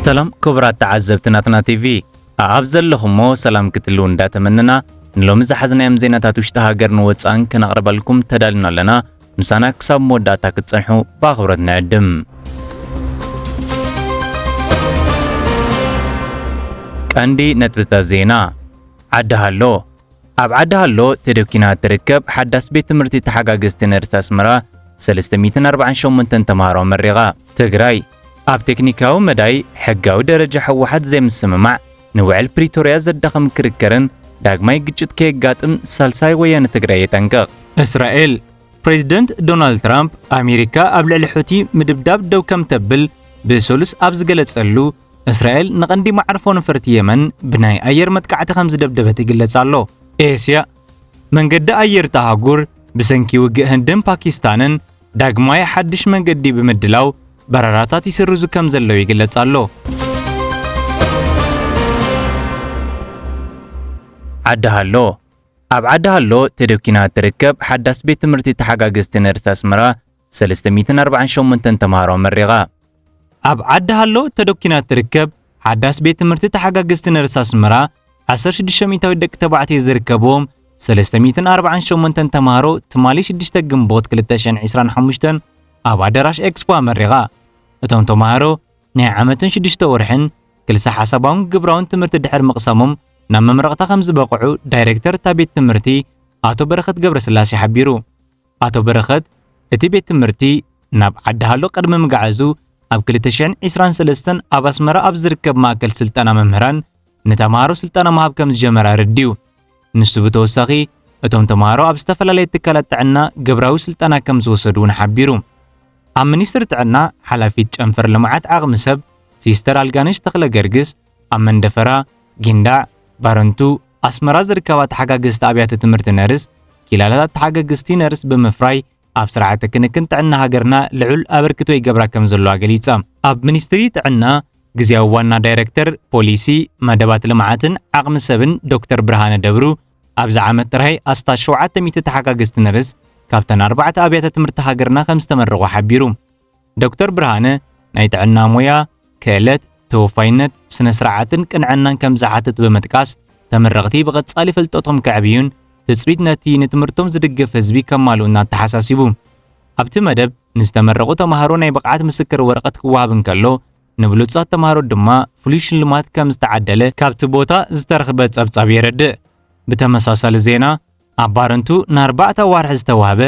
ሰላም ክቡራት ተዓዘብቲ ናትና ቲቪ ኣብ ዘለኹሞ ሰላም ክትልው እንዳተመነና ንሎሚ ዝሓዝናዮም ዜናታት ውሽጢ ሃገርን ወፃእን ከነቕርበልኩም ተዳልና ኣለና። ምሳና ክሳብ መወዳእታ ክትጸንሑ ብኣኽብሮት ንዕድም። ቀንዲ ነጥብታት ዜና ዓዲ ሃሎ ኣብ ዓዲ ሃሎ ተደኲና እትርከብ ሓዳስ ቤት ትምህርቲ ተሓጋገዝቲ ነርስ ኣስመራ 348 ተምሃሮ ኣመሪቓ። ትግራይ፣ ኣብ ቴክኒካዊ መዳይ ሕጋዊ ደረጃ ህወሓት ዘይምስምማዕ ንውዕል ፕሪቶርያ ዘዳኽም ክርክርን ዳግማይ ግጭት ከየጋጥም ሳልሳይ ወያነ ትግራይ የጠንቅቕ። እስራኤል፣ ፕሬዚደንት ዶናልድ ትራምፕ ኣሜሪካ ኣብ ልዕሊ ሑቲ ምድብዳብ ደው ከም ተብል ብሰሉስ ኣብ ዝገለጸሉ እስራኤል ንቐንዲ መዓርፎ ነፈርቲ የመን ብናይ ኣየር መጥቃዕቲ ከም ዝደብደበት ይግለጽ ኣሎ። ኤስያ መንገዲ ኣየር እታ ኣህጉር ብሰንኪ ውግእ ህንድን ፓኪስታንን ዳግማይ ሓድሽ መንገዲ ብምድላው በረራታት ይስርዙ ከም ዘለው ይግለጽ ኣሎ። ዓዲ ሃሎ ኣብ ዓዲ ሃሎ ተደኪና እትርከብ ሓዳስ ቤት ትምህርቲ ተሓጋገዝቲ ነርሲ ኣስመራ ሰለስተ ሚእትን ኣርባዓን ሸሞንተን ተምሃሮ ኣመሪቓ። ኣብ ዓዲ ሃሎ ተደኲና እትርከብ ሓዳስ ቤት ትምህርቲ ተሓጋገዝቲ ነርስ ኣስመራ፣ ዓሰርተ ሽዱሽተ ሚእታዊት ደቂ ተባዕትዮ ዝርከብዎም ሰለስተ ሚእትን ኣርባዓን ሸሞንተን ተምሃሮ ትማሊ ሽዱሽተ ግንቦት ክልተ ሽሕን ዕስራን ሓሙሽተን ኣብ ኣዳራሽ ኤክስፖ ኣመሪቓ። እቶም ተምሃሮ ናይ ዓመትን ሽዱሽተ ወርሕን ክልሰ ሓሳባውን ግብራውን ትምህርቲ ድሕሪ ምቕሳሞም ናብ መምረቕታ ከም ዝበቕዑ ዳይሬክተር እታ ቤት ትምህርቲ ኣቶ በረኸት ገብረስላሴ ሓቢሩ። ኣቶ በረኸት፣ እቲ ቤት ትምህርቲ ናብ ዓዲ-ሃሎ ቅድሚ ምግዓዙ፣ ኣብ ክልተ ሽሕን ዕስራን ሰለስተን ኣብ ኣስመራ ኣብ ዝርከብ ማእከል ስልጠና መምህራን ንተመሃሮ ስልጠና ምሃብ ከም ዝጀመረ ኣረዲኡ። ንሱ ብተወሳኺ፣ እቶም ተመሃሮ ኣብ ዝተፈላለየ ትካላት ጥዕና ግብራዊ ስልጠና ከም ዝወሰዱ'ውን ሓቢሩ። ኣብ ሚኒስትሪ ጥዕና ሓላፊት ጨንፈር ልምዓት ዓቕሚ ሰብ ሲስተር ኣልጋነሽ ተኽለገርግስ፣ ኣብ መንደፈራ፣ ጊንዳዕ፣ ባረንቱ፣ ኣስመራ ዝርከባ ተሓጋገዝቲ ኣብያተ ትምህርቲ ነርስ፣ ኪላላታት ተሓገግዝቲ ነርስ ብምፍራይ ኣብ ስርዓተ ክንክን ጥዕና ሃገርና ልዑል ኣበርክቶ ይገብራ ከምዘለዋ ገሊጻ። ኣብ ሚኒስትሪ ጥዕና ግዝያዊ ዋና ዳይረክተር ፖሊሲ፣ መደባት ልምዓትን ዓቕሚ ሰብን ዶክተር ብርሃነ ደብሩ፣ ኣብዚ ዓመት ጥራይ ኣስታት ሸውዓተ ሚእቲ ተሓጋገዝቲ ነርስ ካብተን ኣርባዕተ ኣብያተ ትምህርቲ ሃገርና ከምዝተመረቑ ሓቢሩ። ዶክተር ብርሃነ ናይ ጥዕና ሞያ ክእለት፣ ተወፋይነት፣ ስነ ስርዓትን ቅንዕናን ከም ዝሓትት ብምጥቃስ ተመረቕቲ ብቐጻሊ ፍልጠቶም ከዕብዩን ትጽቢት ነቲ ንትምህርቶም ዝድግፍ ህዝቢ ከማልኡን ኣተሓሳሲቡ። ኣብቲ መደብ ንዝተመረቑ ተማሃሮ ናይ ብቕዓት ምስክር ወረቐት ክወሃብ እንከሎ ንብሉጻት ተማሃሮ ድማ ፍሉይ ሽልማት ከም ዝተዓደለ ካብቲ ቦታ ዝተረኽበ ጸብጻብ የረድእ። ብተመሳሳሊ ዜና ኣብ ባረንቱ ንኣርባዕተ ኣዋርሕ ዝተዋህበ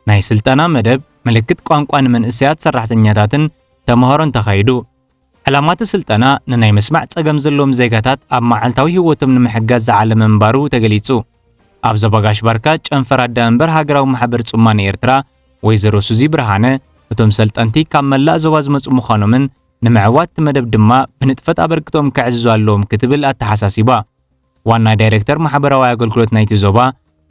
ናይ ስልጠና መደብ ምልክት ቋንቋ ንመንእሰያት ሰራሕተኛታትን ተመሃሮን ተኻይዱ። ዕላማቲ ስልጠና ንናይ ምስማዕ ጸገም ዘለዎም ዜጋታት ኣብ መዓልታዊ ህይወቶም ንምሕጋዝ ዝዓለመ ምንባሩ ተገሊጹ። ኣብ ዞባ ጋሽ ባርካ ጨንፈር ኣዳመንበር ሃገራዊ ማሕበር ጽማነ ኤርትራ ወይዘሮ ሱዚ ብርሃነ እቶም ሰልጠንቲ ካብ መላእ ዞባ ዝመጹ ምዃኖምን ንምዕዋትቲ መደብ ድማ ብንጥፈት ኣበርክቶኦም ከዕዝዙ ኣለዎም ክትብል ኣተሓሳሲባ። ዋና ዳይረክተር ማሕበራዊ ኣገልግሎት ናይቲ ዞባ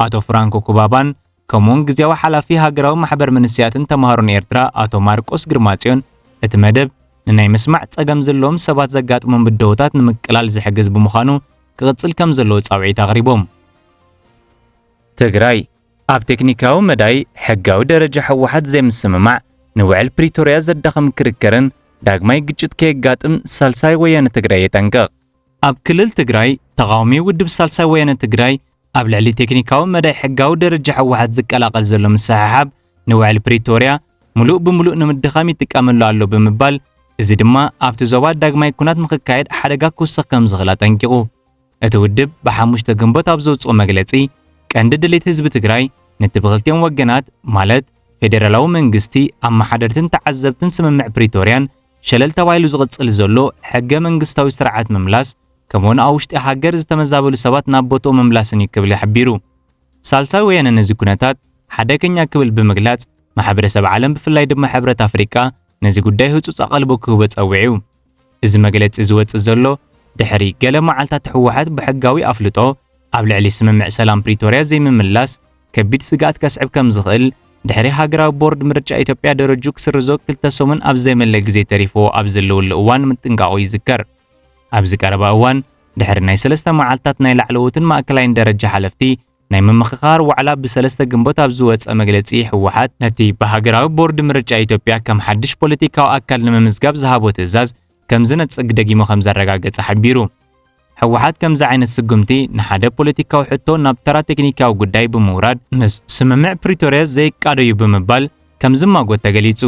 ኣቶ ፍራንኮ ኩባባን ከምኡውን ግዜያዊ ሓላፊ ሃገራዊ ማሕበር መንስያትን ተማሃሮን ኤርትራ ኣቶ ማርቆስ ግርማጽዮን እቲ መደብ ንናይ ምስማዕ ጸገም ዘለዎም ሰባት ዘጋጥሞም ብደሆታት ንምቅላል ዝሕግዝ ብምዃኑ ክቕጽል ከም ዘለዎ ጻውዒት ኣቕሪቦም። ትግራይ ኣብ ቴክኒካዊ መዳይ ሕጋዊ ደረጃ ህወሓት ዘይምስምማዕ ንውዕል ፕሪቶርያ ዘዳኽም ክርክርን ዳግማይ ግጭት ከየጋጥም ሳልሳይ ወያነ ትግራይ የጠንቅቕ። ኣብ ክልል ትግራይ ተቓዋሚ ውድብ ሳልሳይ ወያነ ትግራይ ኣብ ልዕሊ ቴክኒካዊ መዳይ ሕጋዊ ደረጃ ሕወሓት ዝቀላቐል ዘሎ ምስሕሓብ ንውዕሊ ፕሪቶርያ ምሉእ ብምሉእ ንምድኻም ይጥቀመሉ ኣሎ ብምባል እዚ ድማ ኣብቲ ዞባ ዳግማይ ኩናት ንክካየድ ሓደጋ ክውስኽ ከም ዝኽእል ኣጠንቂቑ። እቲ ውድብ ብሓሙሽተ ግንቦት ኣብ ዘውጽኦ መግለጺ ቀንዲ ድሌት ህዝቢ ትግራይ ነቲ ብክልቲኦም ወገናት ማለት ፌዴራላዊ መንግስቲ ኣመሓደርትን ተዓዘብትን ስምምዕ ፕሪቶርያን ሸለል ተባሂሉ ዝቕጽል ዘሎ ሕገ መንግስታዊ ስርዓት ምምላስ ከምኡውን ኣብ ውሽጢ ሃገር ዝተመዛበሉ ሰባት ናብ ቦትኦም ምምላስን እዩ ክብል ሓቢሩ። ሳልሳይ ወያነ ነዚ ኩነታት ሓደገኛ ክብል ብምግላጽ ማሕበረሰብ ዓለም ብፍላይ ድማ ሕብረት ኣፍሪቃ ነዚ ጉዳይ ህጹጽ ኣቐልቦ ክህቦ ጸዊዑ። እዚ መግለጺ ዝወጽእ ዘሎ ድሕሪ ገለ መዓልታት ህወሓት ብሕጋዊ ኣፍልጦ ኣብ ልዕሊ ስምምዕ ሰላም ፕሪቶርያ ዘይምምላስ ከቢድ ስግኣት ከስዕብ ከም ዝኽእል ድሕሪ ሃገራዊ ቦርድ ምርጫ ኢትዮጵያ ደረጁ ክስርዞ ክልተ ሰሙን ኣብ ዘይመለ ግዜ ተሪፍዎ ኣብ ዘለወሉ እዋን ምጥንቃቑ ይዝከር። ኣብዚ ቀረባ እዋን ድሕሪ ናይ ሰለስተ መዓልትታት ናይ ላዕለዎትን ማእከላይን ደረጃ ሓለፍቲ ናይ ምምኽኻር ዋዕላ ብሰለስተ ግንቦት ኣብ ዝወጸ መግለጺ ህወሓት ነቲ ብሃገራዊ ቦርድ ምርጫ ኢትዮጵያ ከም ሓድሽ ፖለቲካዊ ኣካል ንምምዝጋብ ዝሃቦ ትእዛዝ ከም ዝነጽግ ደጊሙ ከም ዘረጋገጸ ሓቢሩ። ህወሓት ከምዚ ዓይነት ስጉምቲ ንሓደ ፖለቲካዊ ሕቶ ናብ ተራ ቴክኒካዊ ጉዳይ ብምውራድ ምስ ስምምዕ ፕሪቶርያ ዘይቃዶ'ዩ ብምባል ከም ዝማጎት ተገሊጹ።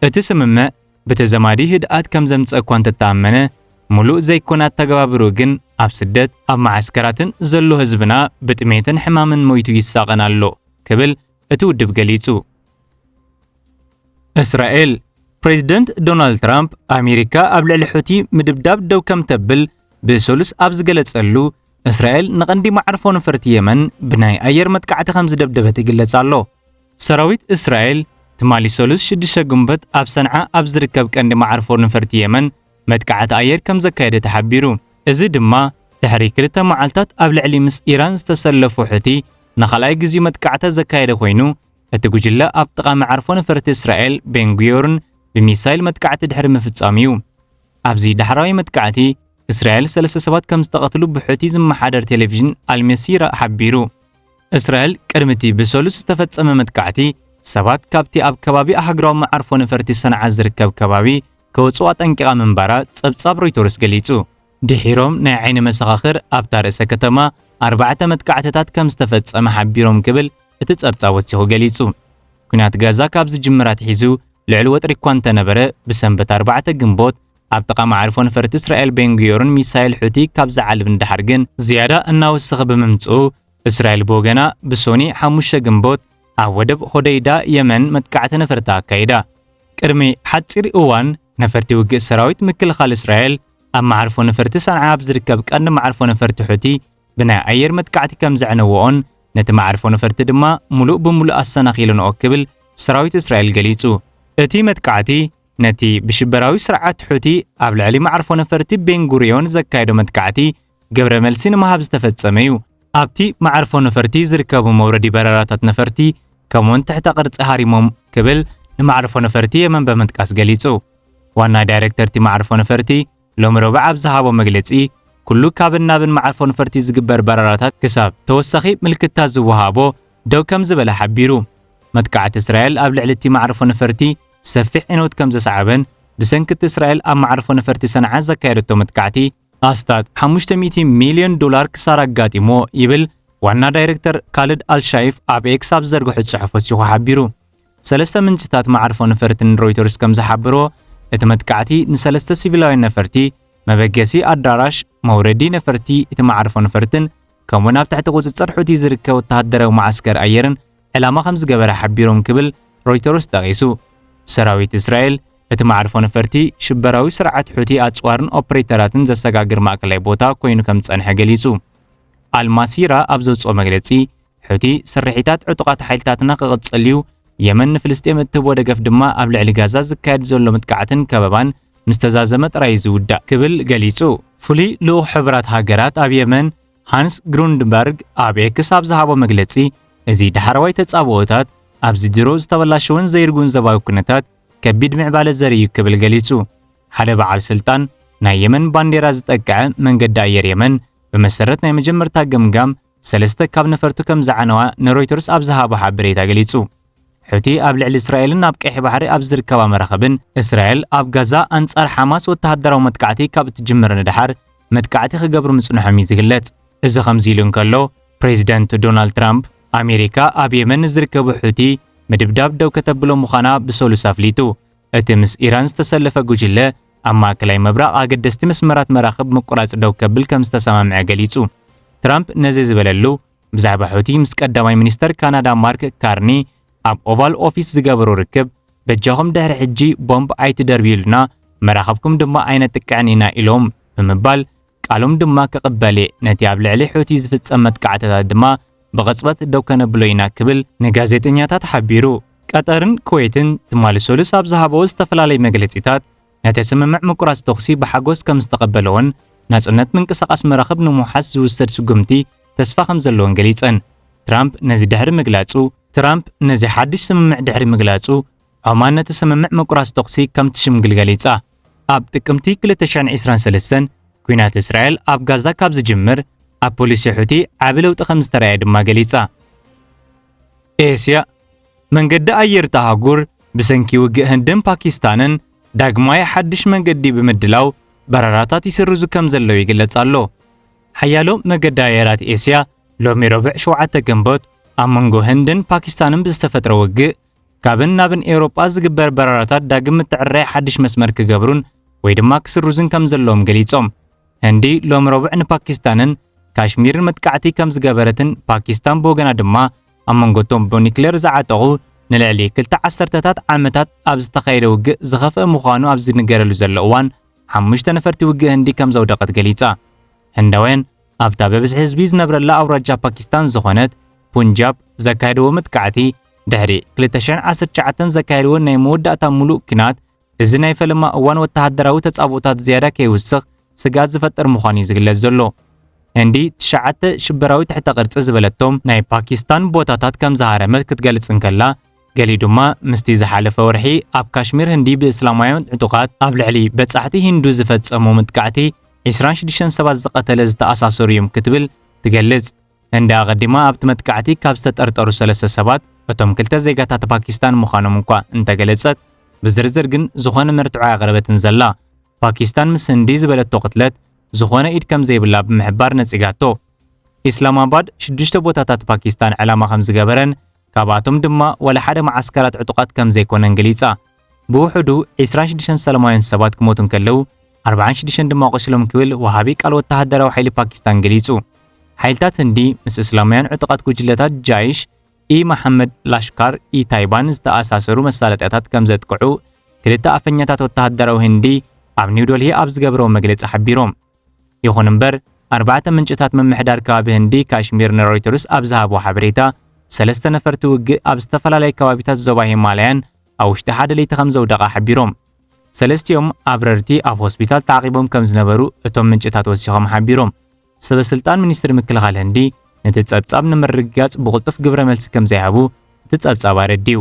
እቲ ስምምዕ ብተዘማዲ ህድኣት ከም ዘምጽእ እኳ እንተተኣመነ፣ ሙሉእ ዘይኮነ ኣተገባብርኡ ግን ኣብ ስደት፣ ኣብ መዓስከራትን ዘሎ ህዝብና ብጥሜትን ሕማምን ሞይቱ ይሳቐን ኣሎ ክብል እቲ ውድብ ገሊጹ። እስራኤል ፕሬዚደንት ዶናልድ ትራምፕ ኣሜሪካ ኣብ ልዕሊ ሑቲ ምድብዳብ ደው ከም ተብል ብሰሉስ ኣብ ዝገለጸሉ እስራኤል ንቐንዲ ማዕርፎ ነፈርቲ የመን ብናይ ኣየር መጥቃዕቲ ከም ዝደብደበት ይግለጽ ኣሎ። ሰራዊት እስራኤል ትማሊ ሰሉስ 6 ግንቦት ኣብ ሰንዓ ኣብ ዝርከብ ቀንዲ ማዕርፎ ነፈርቲ የመን መጥቃዕቲ ኣየር ከም ዘካየደ ተሓቢሩ። እዚ ድማ ድሕሪ ክልተ መዓልታት ኣብ ልዕሊ ምስ ኢራን ዝተሰለፉ ሑቲ ንኻልኣይ ግዜኡ መጥቃዕቲ ዘካየደ ኮይኑ እቲ ጉጅለ ኣብ ጥቓ መዓርፎ ነፈርቲ እስራኤል ቤን ጉዮርን ብሚሳይል መጥቃዕቲ ድሕሪ ምፍጻሙ እዩ። ኣብዚ ዳሕራዋይ መጥቃዕቲ፣ እስራኤል ሰለስተ ሰባት ከም ዝተቐትሉ ብሑቲ ዝመሓደር ቴሌቪዥን ኣልመሲራ ሓቢሩ። እስራኤል ቅድሚ እቲ ብሰሉስ ዝተፈጸመ መጥቃዕቲ፣ ሰባት ካብቲ ኣብ ከባቢ ኣህግራዊ መዓርፎ ነፈርቲ ሰንዓ ዝርከብ ከባቢ ከወጽኡ ኣጠንቂቓ ምንባራ ጸብጻብ ሮይተርስ ገሊጹ። ድሒሮም ናይ ዓይኒ መሰኻኽር ኣብታ ርእሰ ከተማ ኣርባዕተ መጥቃዕትታት ከም ዝተፈጸመ ሓቢሮም ክብል እቲ ጸብጻብ ወሲኹ ገሊጹ። ኲናት ጋዛ ካብ ዝጅምር ኣትሒዙ ልዑል ወጥሪ እኳ እንተነበረ፣ ብሰንበት ኣርባዕተ ግንቦት ኣብ ጥቓ መዓርፎ ነፈርቲ እስራኤል ቤን ጉዮርን ሚሳይል ሑቲ ካብ ዝዓልብ ንደሓር ግን ዝያዳ እናወሰኸ ብምምጽኡ፣ እስራኤል ብወገና ብሶኒ ሓሙሽተ ግንቦት ኣብ ወደብ ሆደይዳ የመን መጥቃዕቲ ነፈርቲ ኣካይዳ። ቅድሚ ሓጺር እዋን ነፈርቲ ውግእ ሰራዊት ምክልኻል እስራኤል ኣብ መዓርፎ ነፈርቲ ሰንዓ ኣብ ዝርከብ ቀንዲ መዓርፎ ነፈርቲ ሑቲ ብናይ ኣየር መጥቃዕቲ ከም ዘዕነወኦን ነቲ መዓርፎ ነፈርቲ ድማ ሙሉእ ብሙሉእ ኣሰናኺለንኦ ክብል ሰራዊት እስራኤል ገሊጹ። እቲ መጥቃዕቲ ነቲ ብሽበራዊ ስርዓት ሑቲ ኣብ ልዕሊ መዓርፎ ነፈርቲ ቤን ጉሪዮን ዘካየዶ መጥቃዕቲ ግብረ መልሲ ንምሃብ ዝተፈጸመ እዩ። ኣብቲ መዓርፎ ነፈርቲ ዝርከቡ መውረዲ በረራታት ነፈርቲ ከምኡውን ትሕተ ቅርጺ ሃሪሞም ክብል ንመዓርፎ ነፈርቲ የመን ብምጥቃስ ገሊጹ። ዋና ዳይሬክተር እቲ መዓርፎ ነፈርቲ ሎሚ ረቡዕ ኣብ ዝሃቦ መግለጺ ኩሉ ካብን ናብን መዓርፎ ነፈርቲ ዝግበር በረራታት ክሳብ ተወሳኺ ምልክታ ዝወሃቦ ደው ከም ዝበለ ሓቢሩ። መጥቃዕቲ እስራኤል ኣብ ልዕሊ እቲ መዓርፎ ነፈርቲ ሰፊሕ ዕንወት ከም ዘስዓበን ብሰንኪ እቲ እስራኤል ኣብ መዓርፎ ነፈርቲ ሰንዓ ዘካየደቶ መጥቃዕቲ ኣስታት ሓሙሽተ ሚእቲ ሚልዮን ዶላር ክሳራ ኣጋጢምዎ ይብል ዋና ዳይረክተር ካልድ ኣልሻይፍ ኣብ ኤክስ ኣብ ዝዘርግሖ ጽሑፍ ወሲኹ ሓቢሩ። ሰለስተ ምንጭታት መዓርፎ ነፈርቲ ንሮይተርስ ከም ዝሓበርዎ፣ እቲ መጥቃዕቲ ንሰለስተ ሲቪላውያን ነፈርቲ፣ መበገሲ ኣዳራሽ፣ መውረዲ ነፈርቲ እቲ መዓርፎ ነፈርትን ከምኡ'ውን ኣብ ትሕቲ ቁጽጽር ሑቲ ዝርከብ ወተሃደራዊ መዓስከር ኣየርን ዕላማ ከም ዝገበረ ሓቢሮም ክብል ሮይተርስ ጠቒሱ። ሰራዊት እስራኤል፣ እቲ መዓርፎ ነፈርቲ፣ ሽበራዊ ስርዓት ሑቲ ኣጽዋርን ኦፕሬተራትን ዘሰጋግር ማእከላይ ቦታ ኰይኑ ከም ዝጸንሐ ገሊጹ። ኣልማሲራ ኣብ ዘውጽኦ መግለጺ፣ ሑቲ ስርሒታት ዕጡቓት ሓይልታትና ክቕጽል'ዩ፣ የመን ንፍልስጤም እትህቦ ደገፍ ድማ ኣብ ልዕሊ ጋዛ ዝካየድ ዘሎ ምጥቃዕትን ከበባን ምስ ተዛዘመ ጥራይ'ዩ ዝውዳእ ክብል ገሊጹ። ፍሉይ ልኡኽ ሕቡራት ሃገራት ኣብ የመን ሃንስ ግሩንድበርግ ኣብ ኤክስ ኣብ ዝሃቦ መግለጺ እዚ ዳሕረዋይ ተጻብኦታት ኣብዚ ድሮ ዝተበላሸወን ዘይርጉን ዘባዊ ኩነታት ከቢድ ምዕባለ ዘርኢ እዩ ክብል ገሊጹ። ሓደ በዓል ስልጣን ናይ የመን ባንዴራ ዝጠቅዐ መንገዲ ኣየር የመን ብመሰረት ናይ መጀመርታ ገምጋም ሰለስተ ካብ ነፈርቱ ከም ዝዓነዋ ንሮይተርስ ኣብ ዝሃቦ ሓበሬታ ገሊጹ። ሑቲ ኣብ ልዕሊ እስራኤልን ኣብ ቀይሕ ባሕሪ ኣብ ዝርከባ መራኽብን። እስራኤል ኣብ ጋዛ ኣንጻር ሓማስ ወተሃደራዊ መጥቃዕቲ ካብ እትጅምር ንደሓር መጥቃዕቲ ክገብሩ ምጽንሖም እዩ ዝግለጽ። እዚ ከምዚ ኢሉ እንከሎ፣ ፕሬዚደንት ዶናልድ ትራምፕ ኣሜሪካ ኣብ የመን ንዝርከቡ ሑቲ ምድብዳብ ደው ከተብሎ ምዃና ብሰሉስ ኣፍሊጡ። እቲ ምስ ኢራን ዝተሰለፈ ጉጅለ ኣብ ማእከላይ ምብራቕ ኣገደስቲ መስመራት መራኽብ ምቁራጽ ደው ከብል ከም ዝተሰማምዐ ገሊጹ። ትራምፕ ነዚ ዝበለሉ ብዛዕባ ሑቲ ምስ ቀዳማይ ሚኒስተር ካናዳ ማርክ ካርኒ ኣብ ኦቫል ኦፊስ ዝገበሮ ርክብ በጃኹም ድሕሪ ሕጂ ቦምብ ኣይትደርብዩልና መራኸብኩም ድማ ኣይነጥቅዕን ኢና ኢሎም ብምባል ቃሎም ድማ ክቕበል እየ ነቲ ኣብ ልዕሊ ሑቲ ዝፍጸም መጥቃዕትታት ድማ ብቕጽበት ደው ከነብሎ ኢና ክብል ንጋዜጠኛታት ሓቢሩ። ቀጠርን ኩዌትን ትማሊ ሰሉስ ኣብ ዝሃበዎ ዝተፈላለዩ መግለጺታት ነቲ ስምምዕ ምቁራጽ ተኹሲ ብሓጎስ ከም ዝተቐበለኦን ናጽነት ምንቅስቓስ መራኽብ ንምውሓስ ዝውሰድ ስጉምቲ ተስፋ ከም ዘለዎን ገሊጸን። ትራምፕ ነዚ ድሕሪ ምግላጹ፣ ትራምፕ ነዚ ሓድሽ ስምምዕ ድሕሪ ምግላጹ፣ ዖማን ነቲ ስምምዕ ምቁራጽ ተኹሲ ከም ትሽምግል ገሊጻ። ኣብ ጥቅምቲ ክልተ ሽሕን ዒስራን ሰለስተን፣ ኲናት እስራኤል ኣብ ጋዛ ካብ ዝጅምር፣ ኣብ ፖሊሲ ሑቲ ዓቢ ለውጢ ከም ዝተራእየ ድማ ገሊጻ። ኤስያ መንገዲ ኣየር እታ ኣህጉር ብሰንኪ ውግእ ህንድን ፓኪስታንን ዳግማይ ሓድሽ መንገዲ ብምድላው በረራታት ይስርዙ ከም ዘለዉ ይግለጽ ኣሎ። ሓያሎ መገዲ ኣየራት ኤስያ ሎሚ ረቡዕ ሸውዓተ ግንቦት ኣብ መንጎ ህንድን ፓኪስታንን ብዝተፈጥረ ውግእ ካብን ናብን ኤውሮጳ ዝግበር በረራታት ዳግም ምትዕርራይ ሓድሽ መስመር ክገብሩን ወይ ድማ ክስርዙን ከም ዘለዎም ገሊጾም። ህንዲ ሎሚ ረቡዕ ንፓኪስታንን ካሽሚርን መጥቃዕቲ ከም ዝገበረትን ፓኪስታን ብወገና ድማ ኣብ መንጎቶም ብኒክሌር ዝዓጠቑ ንልዕሊ ክልተ ዓሰርተታት ዓመታት ኣብ ዝተኻየደ ውግእ ዝኸፍአ ምዃኑ ኣብ ዝንገረሉ ዘሎ እዋን ሓሙሽተ ነፈርቲ ውግእ ህንዲ ከም ዘውደቐት ገሊጻ። ህንዳውያን ኣብታ ብብዝሒ ህዝቢ ዝነብረላ ኣውራጃ ፓኪስታን ዝኾነት ፑንጃብ ዘካየድዎ መጥቃዕቲ ድሕሪ 2019 ዘካየድዎ ናይ መወዳእታ ምሉእ ኲናት እዚ ናይ ፈለማ እዋን ወተሃደራዊ ተጻብኦታት ዝያዳ ከይውስኽ ስግኣት ዝፈጥር ምዃኑ እዩ ዝግለጽ ዘሎ። ህንዲ ትሽዓተ ሽበራዊ ትሕተ ቅርጺ ዝበለቶም ናይ ፓኪስታን ቦታታት ከም ዝሃረመት ክትገልጽ እንከላ፣ ገሊኡ ድማ ምስቲ ዝሓለፈ ወርሒ ኣብ ካሽሚር ህንዲ ብእስላማውያን ዕጡቓት ኣብ ልዕሊ በጻሕቲ ሂንዱ ዝፈጸሞ መጥቃዕቲ ዒስራን ሽዱሽተን ሰባት ዝቐተለ ዝተኣሳሰሩ እዮም ክትብል ትገልጽ። ህንዲ ኣቐዲማ ኣብቲ መጥቃዕቲ ካብ ዝተጠርጠሩ ሰለስተ ሰባት እቶም ክልተ ዜጋታት ፓኪስታን ምዃኖም እኳ እንተገለጸት፣ ብዝርዝር ግን ዝኾነ መርትዖ ኣየቕረበትን ዘላ። ፓኪስታን ምስ ህንዲ ዝበለቶ ቅትለት ዝኾነ ኢድ ከም ዘይብላ ብምሕባር ነጺጋቶ። ኢስላማባድ ሽዱሽተ ቦታታት ፓኪስታን ዕላማ ከም ዝገበረን ካብኣቶም ድማ ዋላ ሓደ መዓስከራት ዕጡቓት ከም ዘይኮነን ገሊጻ። ብውሑዱ ዕስራን ሽዱሽተን ሰላማውያን ሰባት ክሞቱ እንከለዉ፣ ኣርባዓን ሽዱሽተን ድማ ቆሲሎም ክብል ወሃቢ ቃል ወተሃደራዊ ሓይሊ ፓኪስታን ገሊጹ። ሓይልታት ህንዲ ምስ እስላማውያን ዕጡቓት ጉጅለታት ጃይሽ ኢ መሓመድ ላሽካር ኢ ታይባን ዝተኣሳሰሩ መሳለጥያታት ከም ዘጥቅዑ ክልተ ኣፈኛታት ወተሃደራዊ ህንዲ ኣብ ኒውደልሂ ኣብ ዝገብረዎ መግለጺ ሓቢሮም። ይኹን እምበር ኣርባዕተ ምንጭታት ምምሕዳር ከባቢ ህንዲ ካሽሚር ንሮይተርስ ኣብ ዝሃብዎ ሓበሬታ ሰለስተ ነፈርቲ ውግእ ኣብ ዝተፈላለየ ከባቢታት ዞባ ሂማላያን ኣብ ውሽጢ ሓደ ለይቲ ከም ዘውደቓ ሓቢሮም። ሰለስቲኦም ኣብረርቲ ኣብ ሆስፒታል ተዓቂቦም ከም ዝነበሩ እቶም ምንጭታት ወሲኾም ሓቢሮም። ሰበስልጣን ሚኒስትሪ ምክልኻል ህንዲ ነቲ ጸብጻብ ንምርግጋጽ ብቕልጡፍ ግብረ መልሲ ከም ዘይሃቡ እቲ ጸብጻብ ኣረዲኡ።